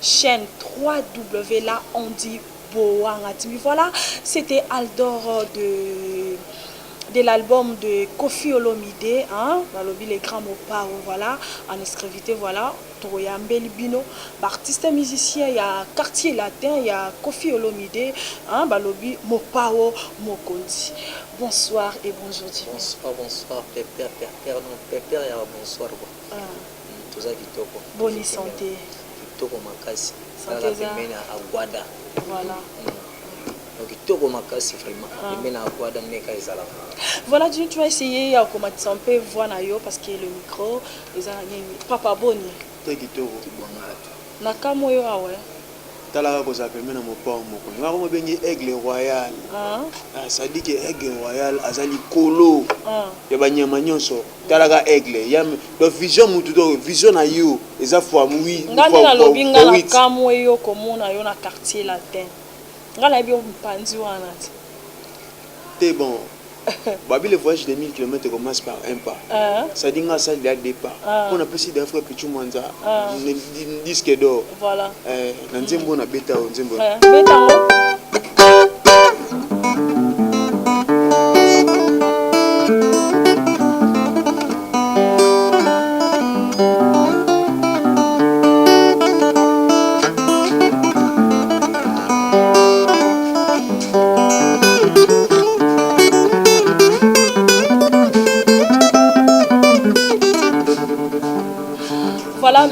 chaine ww la on dit bowanga TV voila c'etait aldor de de l'album de koffi olomide hein balobi le grand mopao voila en escrevite voila tokoyambeli bino ba artiste musicien ya quartier latin ya koffi olomide hein balobi mopao mokonzi bonsoir et bonjour dimanche Bonsoir, bonsoir, pepper, pepper, non, pepper ya bonsoir quoi. Ah. Toza kitoko. Boni sante. Kitoko makasi. Sante eza. Kaka pembeni ya Aguada. Voilà. Donc kitoko makasi vraiment. Ah. Pembeni ya Aguada meka ezalaka. Voilà, tu, tu vas essayer ya komatisa mpe voix na yo parce que le micro eza na nini. Papa boni. Te kitoko kibwanga. Na kamwe yo awa. Tala kaka kozala pembeni ya mopao moko yango yango babengi aigle royal sadike aigle royal aza likolo ya banyama nyonso tala ka aigle ya donc vision mutu to vision na yo eza fois oui nga nde nalobi nga na kamwe yo komona yo na quartier latin nga nayebi yo mpanzi wana te te bon babi le voyage de 1000 kilomètre commence par un pas ça dit nga asali deja deux pas po na pesi deja frère pitshou mwanza disque d'or na nzembo oyo na beta oyo nzembo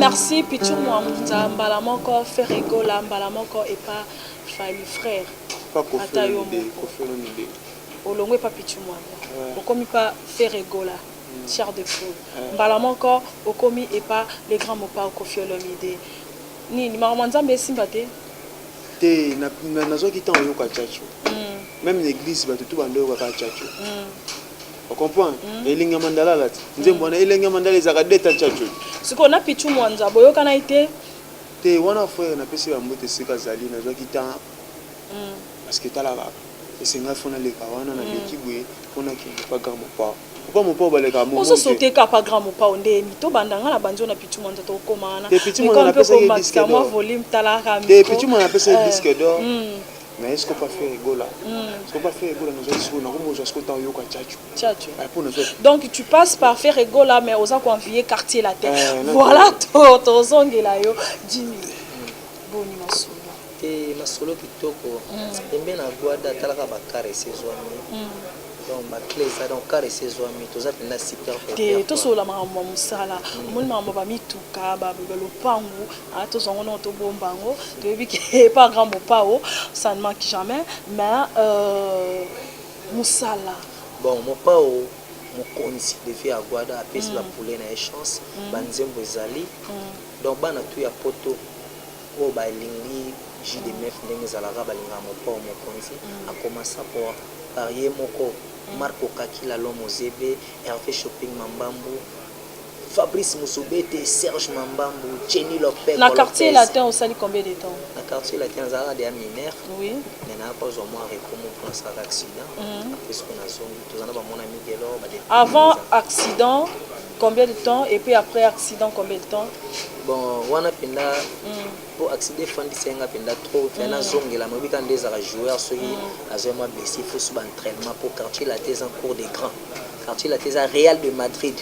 merci pichu mwamunza mbala moko ferre egola mbala moko epa fali frère ata yo moko olongwe pa pitshou muamba okomi pa ferre gola chair de poule mbala moko okomi epa le grand mopao koffi olomide nini makambo ya nzambe esimba te? te nazwaki temps oyoka tchatcho meme na eglise bato tu bando oyoka kaka tchatcho ocomprendre elengi ya mandala alati nzembo wana elengi ya mandala ezalaka deta tchatcho sikoyo na pitshou muanza boyokanaki te? te wana frere napesi bambote esika azali nazwaki temps parce que tala kaka Ese nga faut naleka wana na leki boye po nakende epa grand mopao papa mopao balekaka bongo te ozo sote kaka epa grand mopao nde ni to banda nga na bandi yo na pitshou mwanza to koma wana te pitshou mwanza na pesa ye disque d'or mwa volume tala kaka micro te pitshou mwanza na pesa ye disque d'or mais est ce que pas faire egola est ce que pas faire egola nazo siko na ko mozo siko ta yoka tchatcho tchatcho ba pona zo donc tu passes par faire egola mais oza ko envier quartier latin voilà to to zongela yo Jimmy Boni masolo. Eeh masolo kitoko pembeni na Guada talaka ba car esi ezuami donc ba cle eza donc car esi ezuami toza penza super content te tosolola makambo ya mosala omoni makambo ya ba mituka ba lopangu ah tozua ngo noko tobomba yango toyebi ke epa grand mopao ça ne manque jamais mais euh, mosala bon mopao mokonzi de vie ya Guada apesi ba poulet na ye chance ba nzembo ezali Donc bana tout ya poto oyo ba lingi JDMF ndenge ezalaka ba lingaka mopao mokonzi a commenca par ye moko Marco Kakila l'homme aux yeux bleus, Herve Shopping Mambambu, Fabrice Muzubete, Serge Mambambu, Jenny Lopeko Lopez. Na quartier latin osali combien de temps? Na quartier latin nazalaka deja mineur mais naya ko zua mua repos moko po nasalaka accident après suka nazongi. Avant accident combien de temps et puis après accident combien de temps? Bon wana penda po accident efandisa ye nga penda trop mpe nazongela moyebi kaka nde ezalaka joueur soki azwa mwa blessi fo suba entraînement po quartier latin eza cour de grand quartier latin eza real de madrid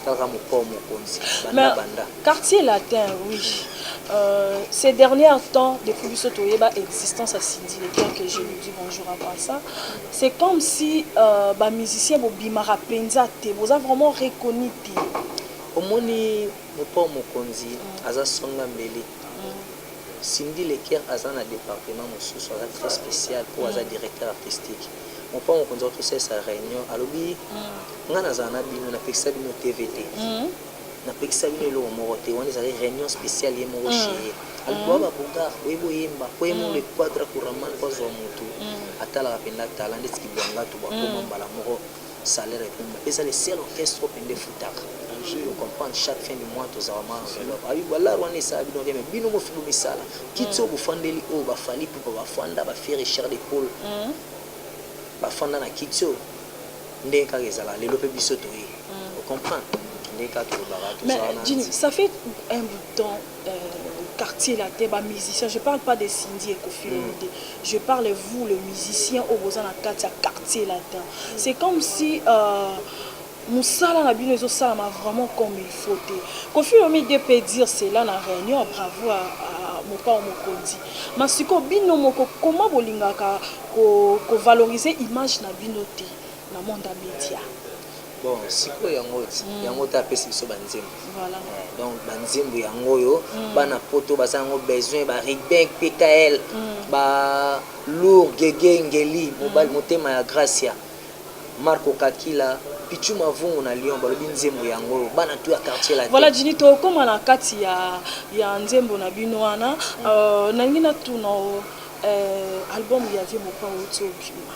Kaka mokoo mokonzi banda banda. Mais quartier latin oui euh, ces dernières temps depuis biso toyeba existence ya Cindy le temps que je lui dis bonjour avant ça c'est comme si euh, ba musiciens bobimaka penza te boza vraiment reconnu te omoni mopao mokonzi mm. aza songa mbele mm. Cindy Leker aza na département mosusu aza très spécial mpo aza mm. directeur artistique Mopao mokonzi auti kosalisa reunion alobi nga nazala na bino napekisa bino TV te napekisa bino eloko moko te wana ezali reunion speciale ye moko chez ye alobi boa ba bougard boyebi boyemba po ye moko le quadra kuraman po azua mutu atalaka mpenza talent ndeti kibuangatu bakoma mbala moko Salaire ekomi eza le seul orchestre oyo pende efutaka to comprendre chaque fin du mois tozwa ba mwa enveloppe ah oui ba lar wana esala bino rien mais bino mofi bo misala kiti oyo bofandeli oyo ba Fally Ipupa ba fanda ba Ferre Charles de Paul ba fanda na kiti oyo ndenge kaka ezalaka lelo pe biso toye o comprendre ndenge kaka tolobaka tozalaka na Mais Jimmy, ça fait un bout de temps quartier latin ba musiciens je parle pas de Cindy et koffi olomide je parle vous le musiciens oyo boza na kati ya quartier latin c'est comme si musala na bino ezo salama vraiment comme il faut te koffi olomide pe dire cela na reunion bravo à mopao mokonzi ma siko bino moko koma bolingaka ko valoriser image na bino te na monde ya media bon sikoyo yango mm. yango te apesi biso banzembo voilà. eh, donc banzembo yango oyo mm. bana poto baza yango besoin ba rigben pkl mm. ba lour gege ngeli mobali mm. motema ya gracia marco kakila pichu mavungu na lyon balobi nzembo yango oyo bana to ya quartier latin voilà jini tokóma na kati ya, ya nzembo na bino wana mm. uh, nalingi natuna uh, album ya vie mopao ti obima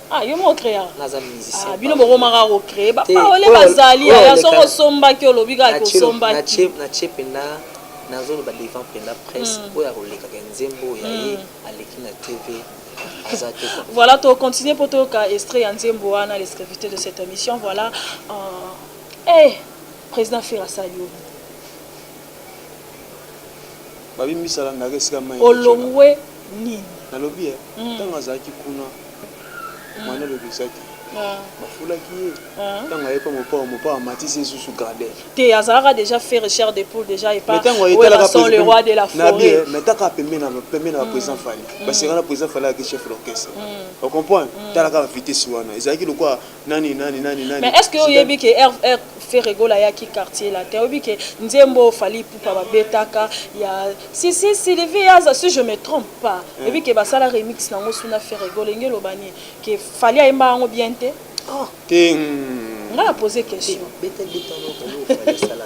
Ah, yo moko créa naza musicien ah, bino bokomaka kocree bapaole bazali ya soki osombaki olobi kaka kosombaki natie mpenda nazoloba devant mpenda presse hmm. oyo akolekaka nzembo ya ye hmm. aleki na tv voilà to continue mpo toyoka extrait ya nzembo wana les de cette émission voilà euh, hey. Eh, President ferre asali yo nini? Babi mbisa la ndaka esika mayi. Olongwe nini? Nalobi eh mm. tango azalaki kuna mm. mwana lobisaki ah. bafulaki ye ah. ntango aye mpo mopao mopao amatisi esusu grade te azalaka déjà faire cher de poule déjà epason le roi de la forêt mais taka pembe na pembe na baprésident fali basengana président fali ayaki chef d'orchestre ocomprendre talaka bavitesi wana ezalaki lokola Nani nani nani nani. Mais est-ce que oyebi que R R Ferre Gola ya ki quartier là te oyebi que nzembo Fally Ipupa ba betaka ya si si Sylvie aza si je me trompe pas hmm. oyebi que basala remix nango suna Ferre Gola ngi loba ni que Fally ayemba yango bien te. Ah te. Hmm. Nga na poser question. Beta beta no ko Fally sala.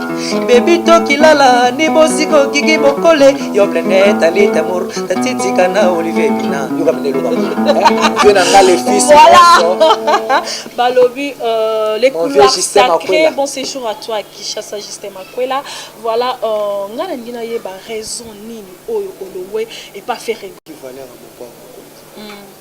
Baby toki lala ni bosiko kiki bokole yo blende tali tamur tatiti kana olive bina yoka mende loka vieux na nga le fils voilà balobi euh, les couloirs sacrés bon séjour à toi Kishasa Justin Makwela voilà euh, nga na ndina yeba raison nini oyo olowe et pas faire valeur à mon corps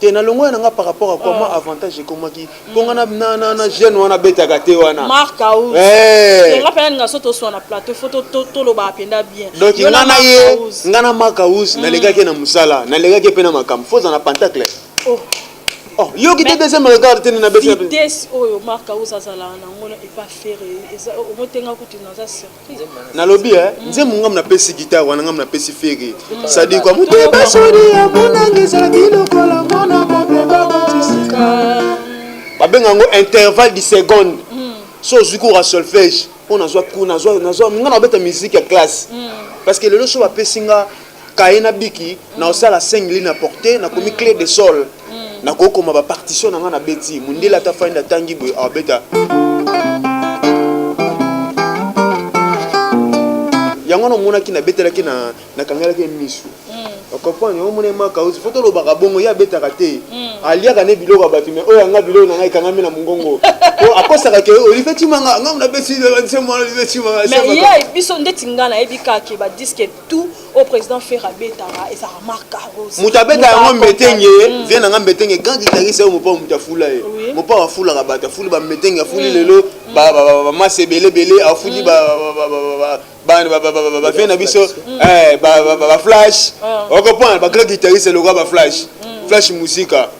Te na longonya na nga par rapport à quoi moi avantage ekomaki mpo nga na na na jeune wana abetaka te wana Marc House. Eh. Nga pena ninga so toswa na plateau faut to- to- toloba apenda bien. donc Yo nga na Marc ye House. nga na mark house nalekaki ye na mosala nalekaki ye mpe na makambo fo oza na pantacle Oh. oh yoki te Mais- deuxième regard te nde nabeti na vitesse oyo Marc House azalaka na yango na epa Ferre eza omotenga kutu naza certain. nalobi eh, nzembo ngambo napesi gitare wana ngambo napesi fere sadiko amoteba sodi ya monanga ezalaki lokola mwana babe babatisika babenga yango intervalle du seconde hmm. so ozwi cour ya solfège mpo nazwa cour nazwa nazwa nga nabeta miziki ya classe hmm. parce que lelo so bapesi nga kaye na biki na osala singli na porte na komi clé de sol na kokoma ba partition na nga na beti mundele ata fanda tangi boye abeta yango na omonaki na betelaki na na kangalaki misu okomprendre yango omona emaka ozi fo tolobaka bongo ye abetaka te aliaka ne biloko ya bato me oyo yanga biloko na ngai ekangami na mongongo po akosaka ke olive timanga ngai na beti nse mwana olive timanga biso ndeti ngai nayebi kaka ke badiske tout au président Ferre abetaka eza marque à rose mutu abeta yango mbetenge mm. vient nanga mbetenge grand guitariste oyo mopao mutu afula ye oui. mopao afulaka bato afuli bambetenge afuli mm. lelo mm. bamasa ebele ebele afuli bavie na biso baflash okoprendre bagrand guitariste elokoa baflash flash musika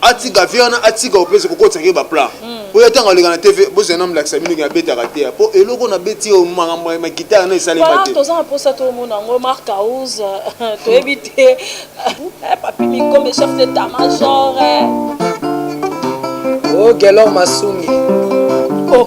atika vie wana atika opesa kokotisa ke baplan hmm. po ya ntango aleka na tv bozela na molakisa bino ke abetaka te ya po eloko na beti oyo makambo ya magitare na esalema te toza na mposa tomona yango mark house toyebi te eh, papi mikombe chef de ta major eh. o oh, gelor masungi oh.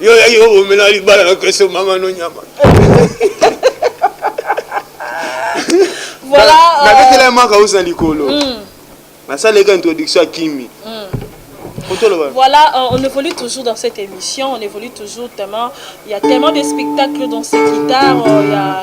Yo ya yo omela libala na keso mama no nyama. Voilà. Euh, na betela ya maka osa likolo. Hmm. Na sala ka introduction kimi. Hmm. Voilà, euh, on évolue toujours dans cette émission, on évolue toujours tellement, il y a tellement de spectacles dans cette guitare, euh, il y a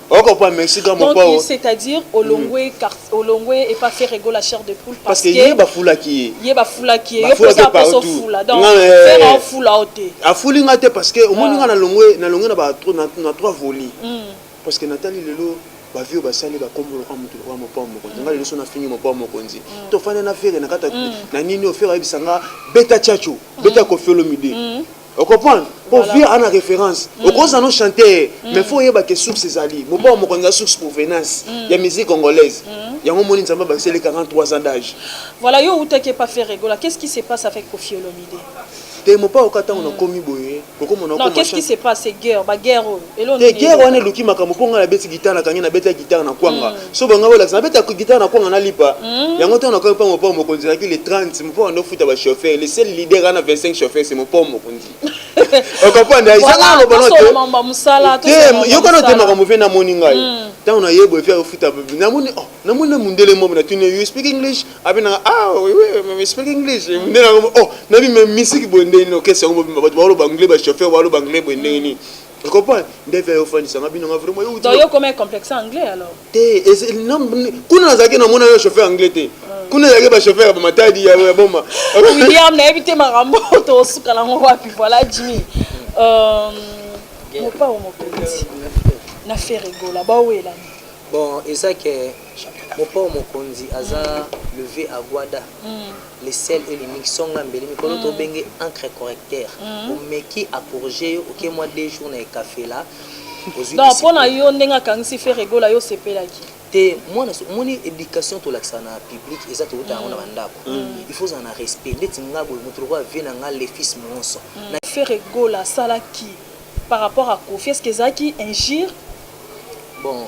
okokwama esika moko Donc, awa c'est-à-dire olongwe quartier- olongwe et pas faire ego la chair de poule parce parce que que ye bafulaki ye ye bafulaki ye yo Bafulaki mposa apesa partout. ofula donc Nga, eh. faire aofula yo te afuli nga te parce que omoni Ah. nga nalongwe nalongwe na ba tro- na na trois volis Mm. parce que natali lelo bavie oyo basali bakombo lokola moto lokola mopao mokonzi nga lelo so nafingi mopao mokonzi tofanda na fere na kati ya- na nini oyo fere ayebisa nga beta chacho beta kofi olomide Okoprendre po vieux ana reference mm. okoza no chanter mm. mais faut oyeba ke source ezali mopao mm. mokonzi ya source provenance mm. ya musique congolaise mm. yango omoni nzambe abakiseli 43 ans d'âge voilà yo outaki epa faire regola qu'est ce qui se passe avec kofi olomide te mopao ka ntango nakomi boye okomona qu'est ce qui se passe guerre baguerre oyo Te guerre wana eluki makambo po nga na beti guitare na kangi na beta guitare na kwanga mm. so banga bolakisa na beta guitare na kwanga na lipa mm. yango ntango na kangi mpo mopao mokonzi ezalaki le 30 mopao ando futa ba chauffeur le seul leader ana 25 chauffeur se mopao mokonzi okopanda ezanga loba no te te yokana te makambo mpe namoni ngai mm. ntango na yebo efi akofuta namoni oh, namoni na mundele mobo na tuni you speak english abe nanga ah oui oui speak english mundele yango oh nabi me misiki boye ndenge nini okesi yango mobimba bato baoloba anglais ba chauffeur baoloba anglais boye ndenge nini Tu comprends? Ndevia yo ofandisa nga bino nga vraiment yo Donc yo koma complexe anglais alors? Te, kuna nazalaki namona yo chauffeur anglais te. Hmm. Kuna ezalaki ba chauffeur ya ba matadi ya ya boma. William nayebi te makambo to suka na ngo wapi voilà Jimmy. Euh mopa o mokonzi na ferre gola ba wela. Bon, eza que mopa o mokonzi aza levé à Guada. Mm. Le seul et l'unique songa mbele mikolo to benge encre correcteur omeki a corriger yo oke mwa deux jours na ekafela ozui donc mpo na yo ndenge akangisi fere gola yo osepelaki te mwana omoni éducation tolakisa na public eza tokota yango na bandako il faut ozala na respect ndeti nga boye moto lokola vie na nga le fils moonso fere gola asalaki par rapport à kofi est ce que ezalaki injure bon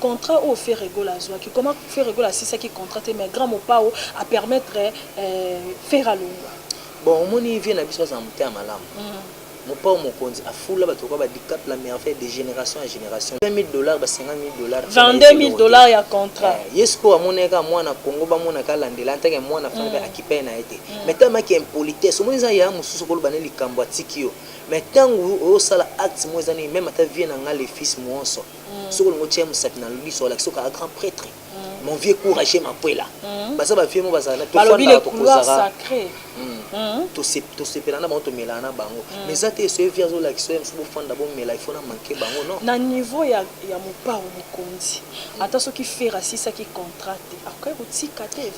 Contrat oyo Ferre Gola azuaki comment Ferre Gola asilisaki contrat te mais Grand Mopao a permettre Ferre alongua. Bon omoni vieux na biso aza na motema malamu Mopao mokonzi a fula batu lokola ba Dicap la merveille de generation en generation 20.000 dollars ba 50.000 dollars pona ye eza eloko te 22.000 dollars ya contrat eh ye sikoyo amonaki kaka muana Congo ba monaka alandela en tant que muana fana pe a kipe naye te mais tellement que impolitesse omoni eza yaya mususu oko loba naye likambu atiki yo mais tangu ozo sala acte moko eza nini meme ata vieux na nga le fils muonso soko olingo tia musapi na liso olakisa okaka grand pretre mon vieux courage mapuela mm. baza ba vieux mo bazala na tofanda tokozaka mm. mm. tosepela na bango tomelana na bango mm. mais eza te eso ye vie azolakisa ye mosusu bofanda bomela ifo na manke bango non na niveau ya, ya mopao mokonzi ata soki fera asisaki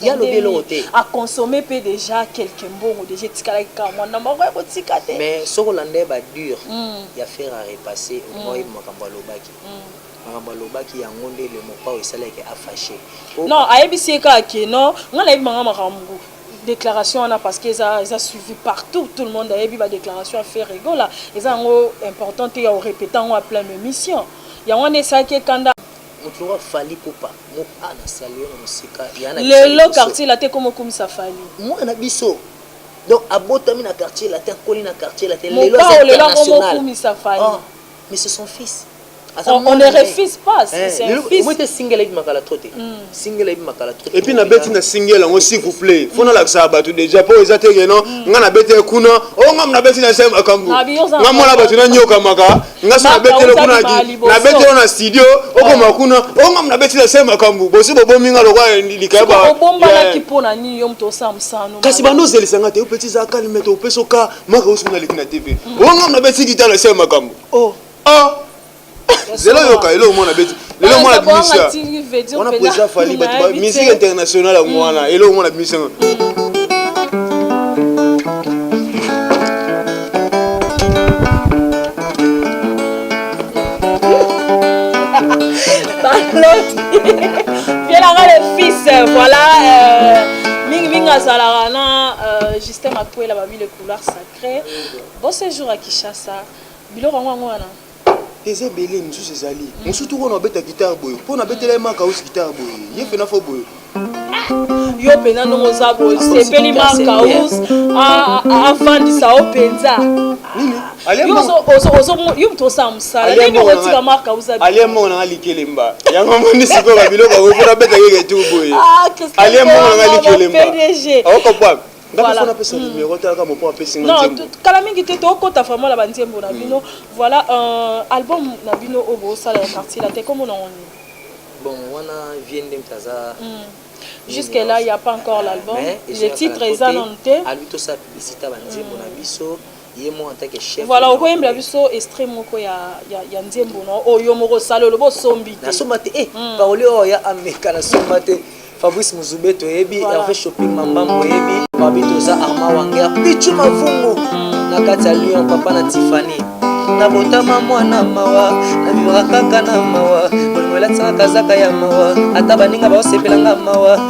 ya lobi eloko te aconsome mpe deja quelque mbongo deja etikalaki kaka mwa ndambo akoya kotika te mais soki olanda ye badure mm. ya fer a repasse omoi mm. makambo alobaki mm. makambo alobaki yango nde le mopao esalaki afashe non ayebisi ye kaka ke non ngai nayebi manga makambo déclaration wana parce que eza eza suivi partout tout le monde ayebi ba déclaration ya fer egola eza yango important te ya orepeta yango ya plein émission yango wana esalaki ekanda Lelo quartier latin ekoma okumisa fally. Mopao lelo akoma okumisa fally. On ne refuse pas c'est c'est un fils. Et puis na beti na single yango s'il vous plait faut na lakisaka batu dejà po eza te que non nga na beti ye kuna oh nga na beti na se makambu nga mwana batu na niokamaka nga so nabetele kuna ki nabetele na studio okoma eh. kuna onga nabetele se makambo bosi bobomi nga lokola likaya ba obombanaki mpo na nini yo moto osala mosano kasi banda ozelisa nga te opeti za kalime te opesi oka maka osi mona leki na tv mm. onga nabeti gitare se makambo oh. ah. zela yoka eloo mwana beti lelo mwana bimisi wana president fali bato musique internationale yango wana eloko mwana bimisi yango vielaka le fils voilà euh, mingi mingi azalaka na euh, justin makwela babi le couloir sacré bon séjour à kinshasa biloko yango yango wana Eza ebele misusu ezali mususu toko na obeta guitare boye pona abetela ye maka usi guitare boye ye pena fo boye yo pena ndongo oza boye sepeli maka us afandisa yo penza yo moto osala mosala nini okotika marka uzaaliya mbongo nanga likelemba yango moni sikoyo babiloko yango mpona abeta yeke tu boye aliya mbongo nanga likelemba okopwaka Voilà. Mm. Non, kala mingi te tokota vraiment na banzembo na bino. Mm. Voilà euh, album na bino oyo bosala ya quartier latin kombo na ngoni. Bon, wana vie nde mpe aza mm. Jusque là, il n'y a pas encore l'album. Le titre est annoncé. Albi tosa publicité banzembo na biso. Voilà, okoyembela biso extrait moko ya ya ya nzembo no oyo moko osali olobi osombi te. Nasomba te eh hmm. Paoli oyo ya Ameka nasomba te. Fabrice Muzube toyebi voilà. Hervé Shopping Mambambo oyebi Babi toza Arma Wanger Pichu Mavungu hmm. na kati ya Lyon papa na Tiffany na botama mwana mawa na vivaka kaka na mawa molimo elatisaka kazaka ya mawa ata baninga baosepelanga mawa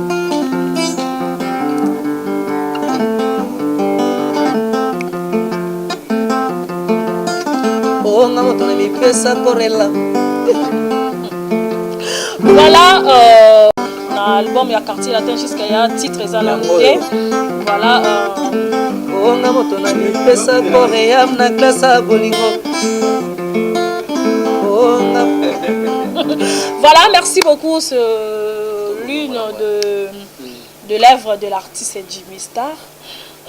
bonga moto na mipesa korela voilà euh, na album ya quartier latin jusqu'à ya titre eza na moke voilà bonga euh, moto na mipesa koream na klasa bolingo bonga voilà merci beaucoup ce L'une de, de l'œuvre de l'artiste Jimmy Star.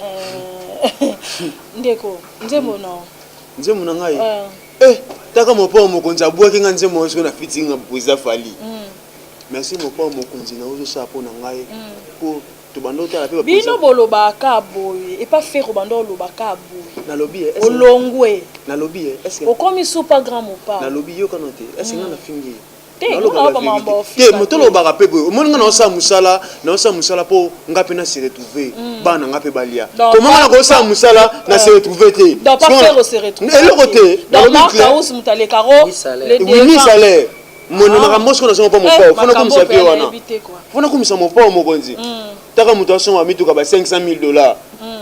Euh, ndeko, nzembo na yo. Nzembo na ngai. Euh. Eh, taka mopao mokonzi abwaki nga nzembo oyo soki na fiti nga boza fali. Mm. Merci mopao mokonzi na ozo sala mpo na ngai. Mm. Mpo tobanda otala mpe bino bolobaka boye epa fero banda olobaka boye nalobi eh, olongwe nalobi eh, okomi supa grand mopa nalobi yokano te ese nga mm. nafingi te moto olobaka mpe boye omoni nga naosala mosala naosala mosala mpo nga mpe na se retrouve hmm. bana nga mpe balia koma nga nakosala mosala na se retrouve te eloko te wini salaire mono ah. makambo soko nazonga mpo mopao fona komisa mpe wana fona komisa mopao mokonzi hmm. taka moto asonga mituka ba 500 000 dollars hmm.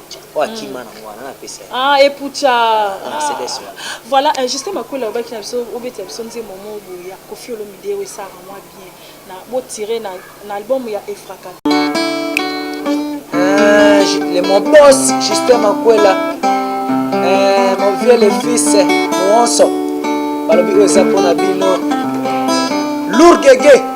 oyo akima hmm. nango wana napesa ah epucha mercedes ah, ah. voilà euh, justin makwela obaki na biso obetela biso nzembo moko boye ya kofi olomide oyo esaka mwa bien na botire na, na album ya efraka euh, le mon boss justin makwela euh, mon vieux le fils monso balobi oyo eza mpo na bino lourgege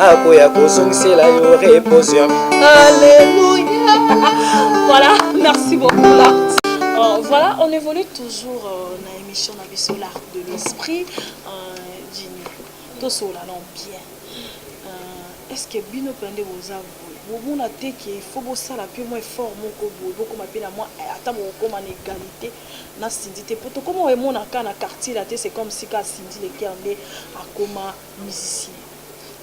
akoya kozongisela yo reposion alleluia voilà merci beaucoup là euh, voilà on évolue toujours euh, na émission na biso l'art de l'esprit euh, jini tosolola non bien euh, est ce que bino mpe nde boza bomona te ke ifo bosala mpe mwa effort moko boye bokoma mpe na mwa eh, ata bokokoma na égalité na sindi te mpo tokoma emona ka na quartier la te c'est comme si ka sindi leker nde akoma musicien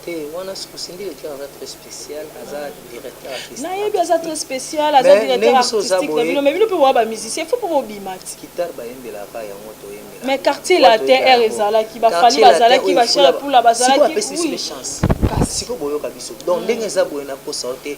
te wana sikosingi le coeur aza très spécial aza directeur artistique nayebi aza très spécial aza directeur artistique na bino mais bino mpe boa ba musicien faut mpo bobima ti guitare bayembelaka yango toyembela mais quartier latin r ezalaki bafali bazalaki bachel pula bazalaki oui sikoyo boyoka biso donc ndenge eza boye nakosa yo te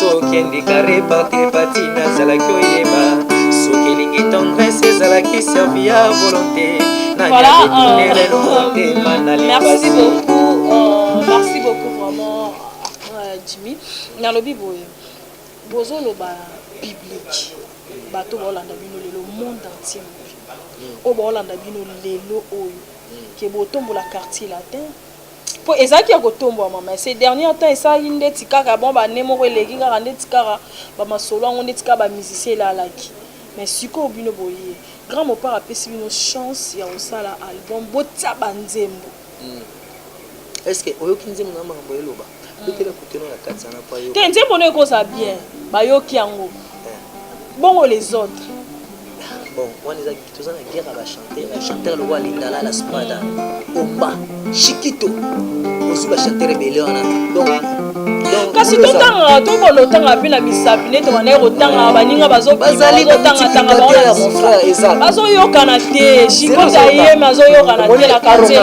soki endika reparte pati nazalaki oyeba soki elingi tendresse ezalaki servi ya volonté naniadetunerelomotema na lipasi jimi nalobi boye bozoloba biblike bato baolanda bino lelo monde entier oyo baolanda bino lelo oyo ke botombola quartier latin Po ezalaki ya kotombwama mais ces derniers temps esalaki ndeti kaka mwa ba annee moko eleki kaka ndeti kaka ba masolo yango ndeti kaka ba musiciens elalaki mais sikoyo bino boye Grand Mopao apesi bino chance ya kosala album botia ba nzembo. Est ce que oyoki nzembo na ye makambo ya eloba? te nzembo no ekozala bien bayoki yango eh. bongo les autres bon wana eza toza na guerre ya bachanteur ya chanteur lokola lingala la spada omba shikito osi bachanteur ebele wana donc kasi totangaka tokola otangaka mpe na misapi nete bandaki kotangaka baninga bazotangatanga bazoyokana te shikota yeme azoyokana te na kartier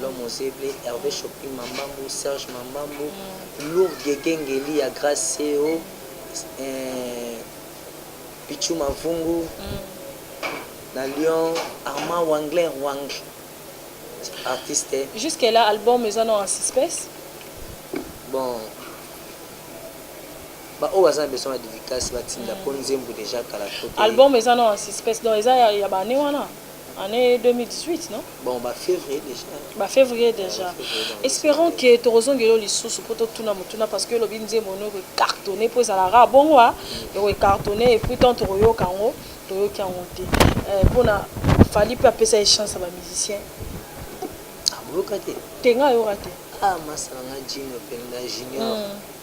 L'homme aux yeux bleus, Herve Shopping Mambambu, Serge Mambambu, Lourd Guegue Ngeli ya Grace Seo, eh, Pitshou Mavungu, na Lyon, Armand Wangler Wang, artiste. Jusque là, album eza no en suspens? Bon, ba oyo baza na besoin ya dédicace batinda mpo nzembo deja kala to te. Album eza no en suspens, donc eza ya, ya bane wana? Année 2018, non? Bon, ba février déjà. Ba février déjà. Espérons que tokozongela lisusu po totuna motuna parce que lobi nzembo no ko cartonner po ezala rare bongo a ko cartonner et puis tant tokoyoka yango toyoki yango te. Euh, pona Fally pe apesa ye chance ya ba musiciens. Amoyoka te. Te nga yoka te. Ah, masala nga Junior Penda Junior. Mm.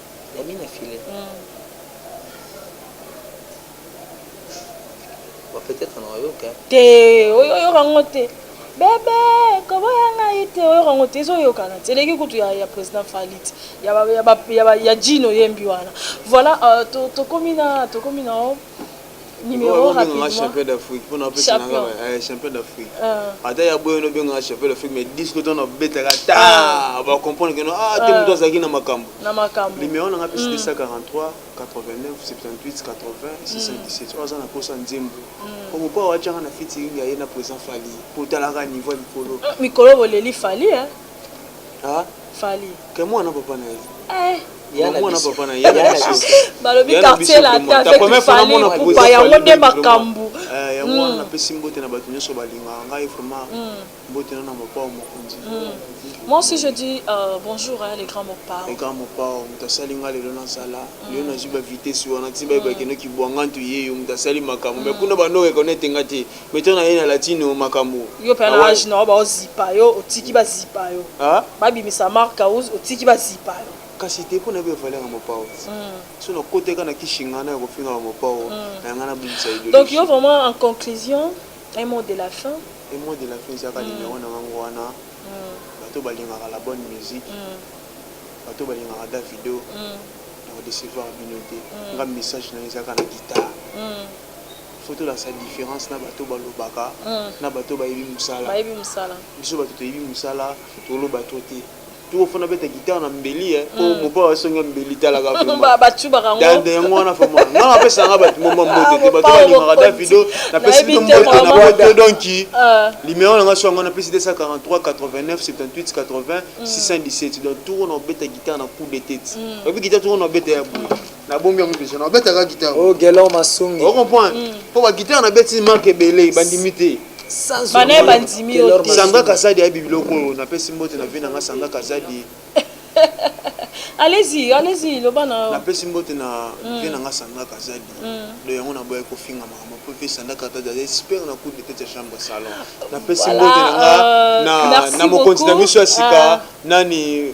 Nani na filet? Bon, peut-être na oyoka. hein. te oyo- oyoka ngo te bebe koboya ngai te oyoka ngo te ezoyokana te eleki kutu ya, ya président falit ya, ba- ya, ba- ya, ba- ya jino yembi wana voilà euh, to- tokomi na tokomi na o numero rapidement champion d'Afrique pona pesa nanga ba champion d'Afrique ata ya boyo no benga champion d'Afrique mais 10 ko tona beta ka ta ba comprendre que no ah te mutu azaki na makambo na makambo numero nanga pesa 243 89 78 80 617 oza na posa nzembo omo pa wa changa na fiti ngai na présent fali potalaka niveau likolo mikolo boleli fali hein fally ke mwana papa na ye eh. balobi quartier lata avec fali pupa yango nde makambo eh, yango wana hmm. napesi mbote na bato nyonso balingaka ngai vraiment hmm. mbote na na mopao mokonzi hmm. moi aussi je dis euh, bonjour hein, les grands mopao les grands mopao moto asali ngai lelo nazala lelo nazwi bavitesi wana ti baye bakendaki bwangantu yeyo moto asali makambo mai kuna bando rekonete ngai te Beton na ye na latino makambu. Yo pe na age na yo bao zipa yo otiki ba zipa yo. Ba bimisa marc house otiki ba zipa yo. Kasi te pona yebi valeur ya mopao soki na koti kaka na ki shingana ya kofinga ba mopao na nga na bimisa ideologie. Donc yo vraiment en conclusion un mot de la fin. Un mot de la fin eza kaka numero na nga ngo wana bato oyo ba lingaka la bonne musique bato oyo ba lingaka davido na ko decevoir bino te nga message na nga eza kaka na guitare. faut tolakisa difference na bato balobaka na bato bayebi musala biso bato toyebi musala toloba trop te toko fona beta guitare na mbeli eh po mopa basonga mbeli talaka dande yango wana fama nga napesa nga bato moma mbote te bato balingaka davido napesi bino mbote na boto donki limero na nga so yango napesi 243 89 78 80 617 donc toko na obeta guitare na coup de tete oyebi guitare toko na obeta ya boye nabombi yango deja nabetaka guitare oh gelor masungi o comprendre mm. mpo baguitare nabeti marke ebele bandimi te bana bandimi yo te sanga kazadi ayebi biloko oyo napesi mbote na vie na nga sanga kazadi allez-y allez-y loba na napesi mbote na mm. vie na nga sanga kazadi mm. do yango naboyaki kofinga makambo mpo mpe sanga kazadi aza expert na cour de tete ya chambre salon napesi mbote na nga euh, na mokonzi na biso ya sika ah. nani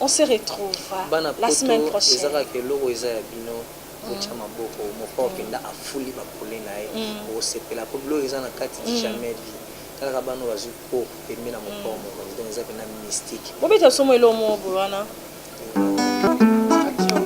On se retrouve Bana la semaine poto eza prochaine. kaka eloko eza ya bino botia maboko mokao mpenza afuli ba pole na ye bokosepela mpo biloko eza na kati du jamais vu talaka bana oyo bazwi cours pembe na mokao mokonzi donc eza mpenza mystique. Bobeta biso mwa eloko moko boye wana.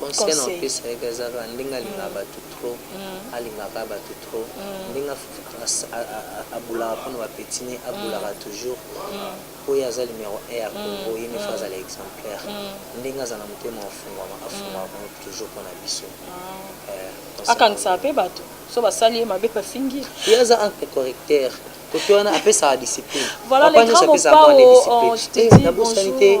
conseil na opesa ye eza kaka ndenge alingaka batu trop alinga kaka batu trop ndenge aboulaka pona ba petit ne aboulaka toujours po ye aza numero un ya congo ye ne faut azala exemplaire ndenge aza na motema ya kofungwama afungwaka congo toujours pona biso akangisaka pe batu so basali ye mabe bafingi ye aza entre correcteur kote wana apesaka discipline papa nionso apesaka mwana discipline nabosani te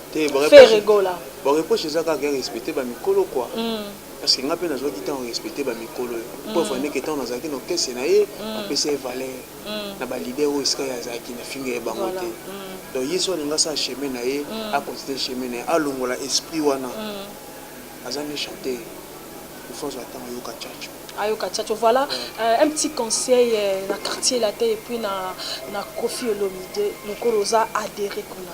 Ferre Gola. Ba reproche eza kaka ya respecter ba mikolo quoi. Parce que nga pe nazwaki temps respecter ba mikolo. Preuve en est que tango nazalaki na orchestre na ye, na pesa ye valeur. Na ba leader oyo esika ye azalaki na finga ye bango te. Donc ye soki alingi asala chemin na ye, a continuer chemin na ye. Alongola esprit wana. Aza nde chanteur. Il faut azwa temps ayoka Tchatcho. ayoka Tchatcho. Voilà un petit conseil na quartier latin et puis na Koffi Olomide. Mukolo oza adherer kuna.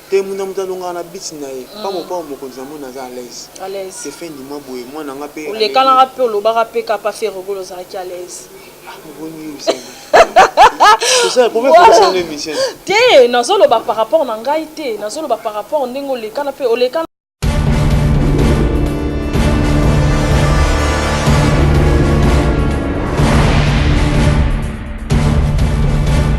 Te muna mutu alongaka na beat na ye pa mopao mokonzi na moni aza alaise te fin du mois boye mwana nga pe olekanaka pe olobaka pe ka pa ferre gola ozalaki alaise ah moboni yo ozali te nazoloba par rapport na ngai te nazoloba par rapport ndenge olekana pe olekana